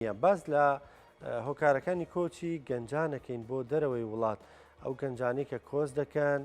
باس لە هۆکارەکانی کۆچی گەنجانەکەین بۆ دەرەوەی وڵات ئەو گەنجانی کە کۆچ دەکەن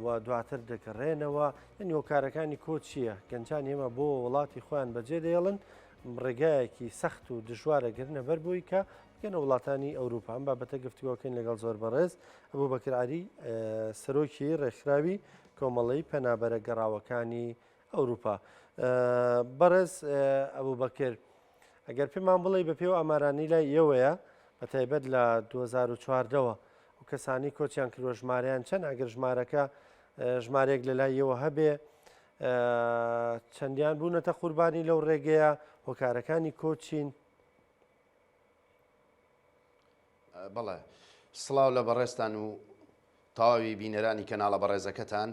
و دواتر دەگەڕێنەوە یعنی هۆکارەکانی کۆ چییە گەنجان ئێمە بۆ وڵاتی خۆیان بەجێ دەێڵن ڕێگایەکی سەخت و دژوارە گرنە بەر بووی کە بگەنە وڵاتانی ئەوروپا ئەم بابەتە گفتوگۆکەین لەگەڵ زۆر بەڕێز ئەبوو بەکراری سەرۆکی ڕێکخراوی کۆمەڵی پەنابەرە گەڕاوەکانی ئەوروپا. بەڕێز ئەبوبەکر، ئەگەر پێمان بڵێی بە پێی ئەو ئامارانەی لای ئێوەیە، بە تایبەت لە دوو هەزار و چواردە وە، ئەو کەسانەی کۆچیان کردووە ژمارەیان چەند، ئەگەر ژمارەکە ژمارەیەک لە لای ئێوە هەبێ، چەندیان بوونەتە قوربانی لەو ڕێگەیە، هۆکارەکانی کۆچ چین؟ بەڵێ سڵاو لە بەڕێزتان و تەواوی بینەرانی کەناڵە بەڕێزەکەتان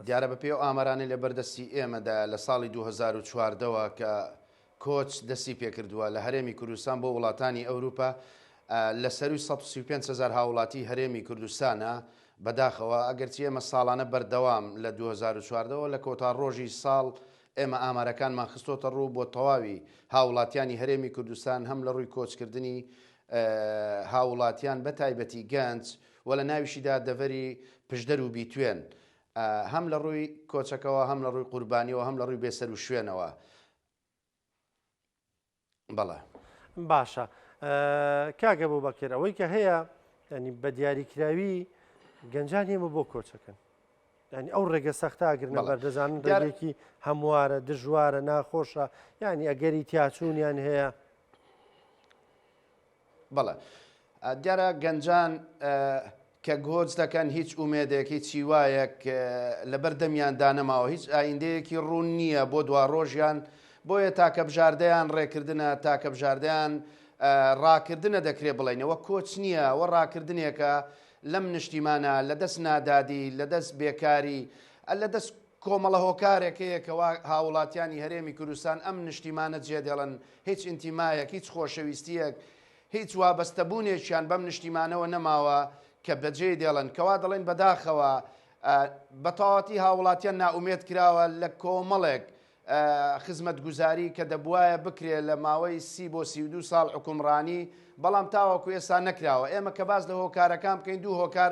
دیارە بە پێ و ئامارانی لە بەردەستی ئێمەدا لە ساڵی 2014ەوە کە کۆچ دەستی پێکردووە لە هەرێمی کوردستان بۆ وڵاتانی ئەوروپا لە سەروی 135 هزار هاوڵاتی هەرێمی کوردستانە بەداخەوە ئەگەرچی ئێمە ساڵانە بەردەوام لە 2014ەوە لە کۆتا ڕۆژی ساڵ ئێمە ئامارەکانمان خستۆتە ڕوو بۆ تەواوی هاوڵاتیانی هەرێمی کوردستان هەم لە ڕووی کۆچکردنی هاوڵاتیان بە تایبەتی گەنج و لە ناویشیدا دەڤەری پشدەر و بیتوێن هەم لە ڕووی کۆچەکەەوە هەم لە ڕووی قوربانیەوە هەم لە ڕووی بێسەر و شوێنەوە بەڵێ. باشە کاک ئەبوبەکر ئەوەی کە هەیە ینی بە دیاریکراوی گەنجان ئێمە بۆ کۆچەکەن ینی ئەو ڕێگە سەختە ئەگرنە بەر دەزانن دارێکی هەموارە دژوارە ناخۆشە ینی ئەگەری تیاچوونیان هەیە بەڵێ دیارە گەنجان کە گۆچ دەکەن هیچ ئومێدێک هیچ هیوایەک لەبەر دەمیان دانەماوە هیچ ئایندەیەکی ڕوون نییە بۆ دوا ڕۆژیان بۆیە تاکە بژاردەیان ڕێکردە تاکە بژاردەیان ڕاکردنە دەکرێت بڵێنەوە کۆچ نییە و ڕاکردنێکە لەم نیشتیمانە لە دەست نادادی لە دەست بێکاری لە دەست کۆمەڵە هۆکارێک هەیە کەوا هاووڵاتیانی هەرێمی کوردستان ئەم نیشتیمانە جێدێڵن، هیچ ئینتیمایەک، هیچ خۆشەویستییەک، هیچ وابەستەبوونێکیان بەم نیشتیمانەوە نەماوە کە بەجێی دێڵن، کەوا دەڵێن بەداخەوە بە تەواوەتی هاووڵاتیان نائومێد کراوە لە کۆمەڵێک خزمەتگوزاری کە دەبووایە بکرێ لە ماوەی سی بۆ سی و دوو ساڵ حوکمڕانی، بەڵام تاوەکو ئێستا نەکراوە. ئێمە کە باس لە هۆکارەکان بکەین، دوو هۆکار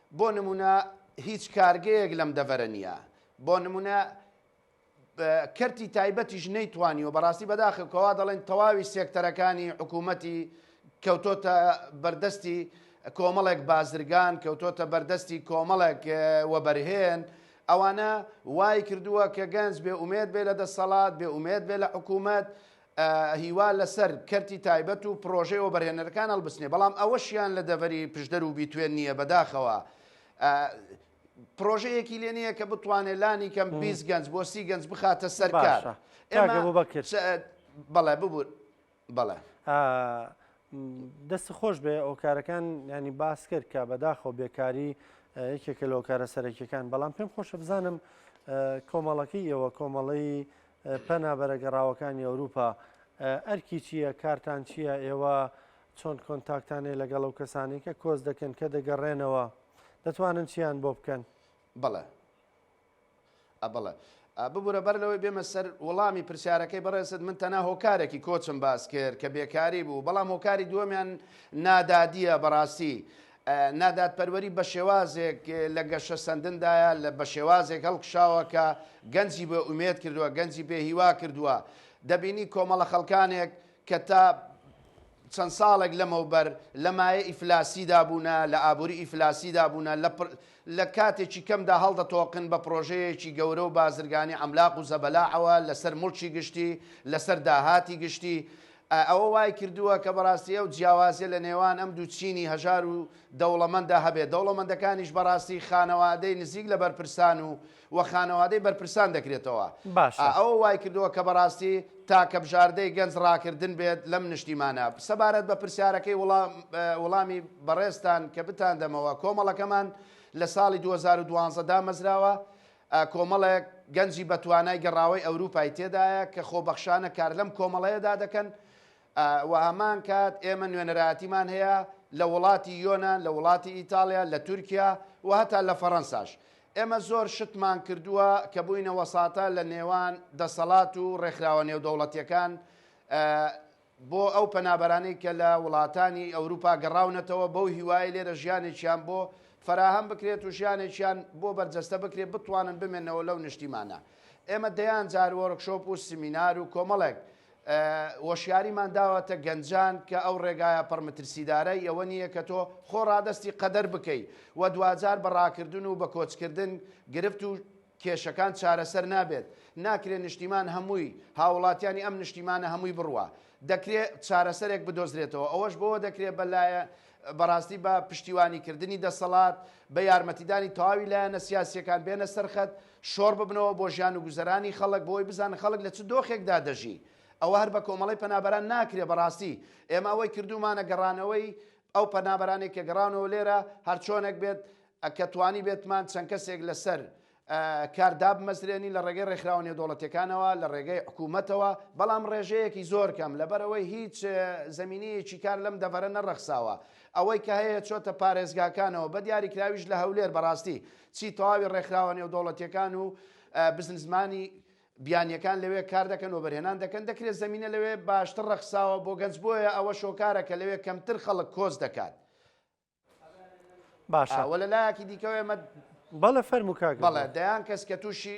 بۆ نموونە هیچ کارگەیەک لەم دەڤەرە نییە، بۆ نموونە کەرتی تایبەتیش نەیتوانیوە، بەڕاستی بەداخە کە وا دەڵێن تەواوی سێکتەرەکانی حکوومەتی کەوتۆتە بەردەستی کۆمەڵێک بازرگان، کەوتۆتە بەردەستی کۆمەڵێک وەبەرهێن، ئەوانە وای کردووە کە گەنج بێ ئومێد بێ لە دەسەڵات، بێ ئومێد بێ لە حکوومەت، هیوا لەسەر کەرتی تایبەت و پڕۆژەی وەبەرهێنەرەکان هەڵبستنێ، بەڵام ئەوەشیان لە دەڤەری پشدەر و بیتوێن نییە، بەداخەوە پڕۆژەیەکی لێ نییە کە بتوانێت لانی کەم 20 گەنج بۆ سی گەنج بخاتە سەرکار بەڵێ ببوور بەڵێ. دەست خۆش بێ ئۆکارەکان ینی باس کرد کە بەداخۆ بێکاری یەکێکە لۆکارە سەرەکیەکان بەڵام پێم خۆشە بزانم کۆمەڵەکەی ئێوە کۆمەڵەی پەنابەرە گەڕاوەکانی ئەوروپا ئەرکی چییە؟ کارتان چییە؟ ئێوە چۆن کۆنتاکتان هەیە لەگەڵ ئەو کەسانەی کە کۆچ دەکەن کە دەگەڕێنەوە؟ دەتوانن چییان بۆ بکەن؟ بەڵێ. ئە بەڵێ. ئە ببورە بەر لەوەی بێمە سەر وڵامی پرسیارەکەی بەڕێزت، من تەنها هۆکارێکی کۆچم باس کرد کە بێکاری بوو، بەڵام هۆکاری دووەمیان نادادییە بەڕاستی. نادادپەروەری بە شێوازێک لە گەشەسەندندایە، لە بە شێوازێک هەڵکشاوە کە گەنجی بێ ئومێد کردووە، گەنجی بێ هیوا کردووە. دەبینی کۆمەڵە خەڵکانێک کە تا چەند ساڵێک لەمەوبەر لە مایە ئیفلاسیدا بوونە، لە ئابووری ئیفلاسیدا بوونە، لە لە کاتێکی کەمدا هەڵدەتۆقن بە پرۆژەیەکی گەورە و بازرگانی عەملاق و زەبەلاحەوە لەسەر موڵکی گشتی، لەسەر داهاتی گشتی. ئەوە وایکردووە کە بەڕاستی ئەو جیاوازیە لە نێوان ئەم دوو چینی هەژار و دەوڵەمەنددا هەبێت. دەوڵەمەندەکانیش بەڕاستی خانەوادەی نزیک لە بەرپرسان و و خانەوادەی بەرپرسان دەکرێتەوە. باشە. ئەوە وایکردووە کە بەڕاستی تاکە بژاردەی گەنج ڕاکردن بێت لەم نیشتیمانە. سەبارەت بە پرسیارەکەی وڵام وڵامی بەڕێزتان کە بتاندەمەوە، کۆمەڵەکەمان لە ساڵی دوو هەزار و دوازدە دامەزراوە، کۆمەڵێک گەنجی بەتوانای گەڕاوەی ئەوروپای تێدایە کە خۆبەخشانە کار لەم کۆمەڵەیەدا دەکەن، وە هەمان کات ئێمە نوێنەرایەتیمان هەیە لە وڵاتی یۆنان، لە وڵاتی ئیتاڵیا، لە تورکیا و هەتا لە فەرەنساش. ئێمە زۆر شتمان کردووە کە بووینە وەساتا لە نێوان دەسەڵات و ڕێکخراوە نێودەوڵەتیەکان بۆ ئەو پەنابەرانەی کە لە وڵاتانی ئەوروپا گەڕاونەتەوە بەو هیوایەی لێرە ژیانێکیان بۆ فەراهەم بکرێت و ژیانێکیان بۆ بەرجەستە بکرێت بتوانن بمێنەوە لەو نیشتیمانە. ئێمە دەیان جار وۆرکشۆپ و سمینار و کۆمەڵێک وەشیاریمان داوەتە گەنجان کە ئەو ڕێگایە پڕ مترسیدارەی ئەوە نییە کە تۆ خۆ ڕادەستی قەدەر بکەی و دواجار بە ڕاکردن و بە کۆچکردن گرفت و کێشەکان چارەسەر نابێت، ناکرێ نیشتیمان هەمووی، هاوڵاتیانی ئەم نیشتیمانە هەمووی بڕوا. دەکرێ چارەسەرێک بدۆزرێتەوە، ئەوەش بەوە دەکرێ بە لایە بەڕاستی بە پشتیوانیکردنی دەسەڵات، بە یارمەتیدانی تەواوی لایەنە سیاسییەکان بێنە سەر خەت، شۆڕ ببنەوە بۆ ژیان و گوزەرانی خەڵک بۆ ئەوەی بزانن خەڵک لە چ دۆخێکدا دەژی ئەوە هەر بە کۆمەڵەی پەنابەران ناکرێ بەڕاستی ئێمە ئەوەی کردوومانە گەڕانەوەی ئەو پەنابەرانێک کە گەڕانەوە لێرە هەرچۆنێک بێت کە توانی بێتمان چەند کەسێک لەسەر کار دابمەزرێنی لە ڕێگەی ڕێکخراوە نێودەوڵەتەکانەوە لە ڕێگەی حکوومەتەوە بەڵام ڕێژەیەکی زۆر کەم لەبەرەوەی هیچ زمینەیەکی کار لەم دەڤەرە نەڕەخساوە ئەوەی کە هەیە چۆتە پارێزگاکانەوە بە دیاریکراویش لە هەولێر بەڕاستی چی تەواوی ڕێکخراوە نێودەوڵەتیەکان و بزنسمانی بیانیەکان لەوێ کار دەکەن وەبەرهێنان دەکەن دەکرێت زمینە لەوێ باشتر ڕەخساوە بۆ گەنج بۆیە ئەوە شۆکارە کە لەوێ کەمتر خەڵک کۆچ دەکات باشە وە لە لایەکی دیکەوە ئێمە بەڵێ فەرموو کاک بەڵێ دەیان کەس کە تووشی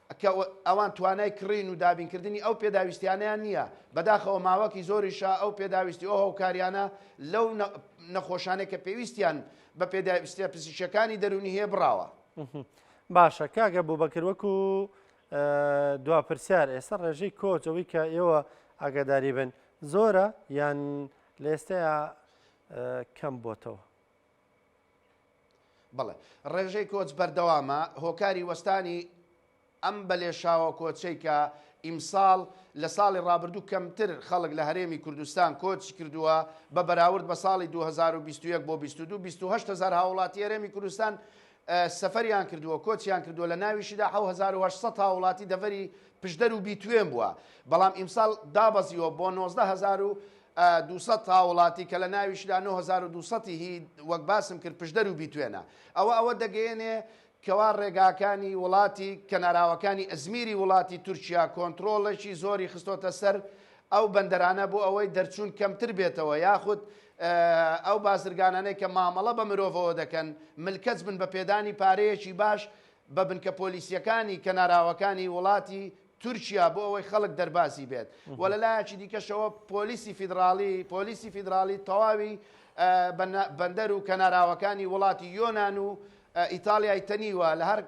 کە ئەوان توانای کڕین و دابینکردنی ئەو پێداویستیانەیان نییە، بەداخەوە ماوەکی زۆریشە ئەو پێداویستی و هۆکاریانە لەو نەخۆشانەی کە پێویستیان بە پێداویستە پزیشەکانی دەرونی هەیە بڕاوە. باشە کاگە بۆ بەکر وەکو دوا پرسیار ئێستا ڕێژەی کۆچ ئەوەی کە ئێوە ئاگاداری بن زۆرە یان لە ئێستەیە کەم بۆتەوە. بەڵێ ڕێژەی کۆچ بەردەوامە، هۆکاری وەستانی ئەم بە لێشاوە کۆچەی کە ئیمساڵ لە ساڵی ڕابردوو کەمتر خەڵک لە هەرێمی کوردستان کۆچی کردووە بە بەراورد بە ساڵی دوو هەزار و بیست و یەک بۆ بیست و دوو، بیست و هەشت هەزار هاووڵاتی هەرێمی کوردستان سەفەریان کردووە، کۆچیان کردووە، لە ناویشیدا حەو هەزار و هەشت سەد هاووڵاتی دەڤەری پشدەر و بیتوێن بووە، بەڵام ئیمساڵ دابەزیوە بۆ نۆزدە هەزار و دوو سەد هاووڵاتی کە لە ناویشیدا نۆ هەزار و دوو سەد ی هی وەک باسم کرد پشدەر و بیتوێنە. ئەوە ئەوە دەگەیەنێ کەوا ڕێگاکانی وڵاتی کەناراوەکانی ئەزمیری وڵاتی تورکیا کۆنتڕۆڵێکی زۆری خستۆتە سەر ئەو بەندەرانە بۆ ئەوەی دەرچوون کەمتر بێتەوە یاخود ئەو بازرگانانەی کە مامەڵە بە مرۆڤەوە دەکەن ملکەچ بن بە پێدانی پارەیەکی باش بە بنکە پۆلیسیەکانی کەناراوەکانی وڵاتی تورکیا بۆ ئەوەی خەڵک دەربازی بێت و لە لایەکی دیکەشەوە پۆلیسی فیدراڵی پۆلیسی فیدراڵی تەواوی بەندەر و کەناراوەکانی وڵاتی یۆناان و ئیتاڵیای تەنیوە لە هەر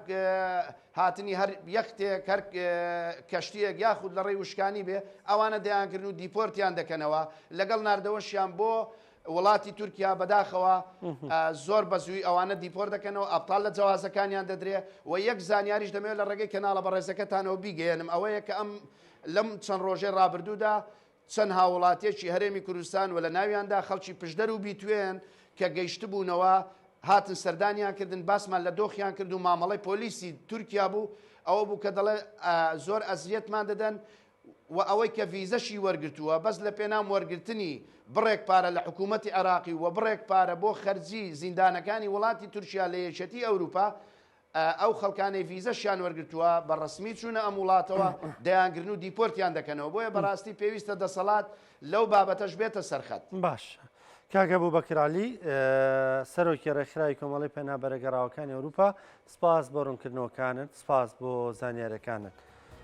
هاتنی هەر یەختێک هەر کەشتیەک یاخود لە ڕێی وشکانی بێ ئەوانە دەیانکردن و دیپۆرتیان دەکەنەوە لەگەڵ ناردەوەشیان بۆ وڵاتی تورکیا بەداخەوە زۆر بەزووی ئەوانە دیپۆر دەکەنەوە ئەپتال لە جوازەکانیان دەدرێ و یەک زانیاریش دەمێت لە ڕێگەی کەناڵە بەڕێزەکەتانەوە بیگەێنم ئەوەیە کە ئەم لەم چەند ڕۆژێ ڕابردوودا چەند هاووڵاتییەکی هەرێمی کوردستان و لە ناویاندا خەڵکی پشدەر و بیتوێن کە گەیشتبوونەوە هاتن سەردانیان کردن باسمان لە دۆخیان کرد و مامەڵەی پۆلیسی تورکیا بوو ئەوە بوو کە دەڵێ زۆر ئەزیەتمان دەدەن و ئەوەی کە ڤیزەشی وەرگرتووە بەس لە پێنام وەرگرتنی بڕێک پارە لە حکوومەتی عێراقی و بڕێک پارە بۆ خەرجی زیندانەکانی وڵاتی تورکیا لە یەکێتی ئەوروپا ئەو خەڵکانەی ڤیزەشیان وەرگتووە بە ڕسمی چوونە ئەم وڵاتەوە دەیانگرن و دیپۆرتیان دەکەنەوە بۆیە بەڕاستی پێویستە دەسەڵات لەو بابەتەش بێتە سەرخەت باش کاگە بوو بەکرالی سەرۆکی ڕێکخراوی کۆمەڵی پێنا بەرەگەڕاوەکانی ئەوروپا سپاس بۆ ڕوونکردنەوەکانت سپاس بۆ زانیارەکانت.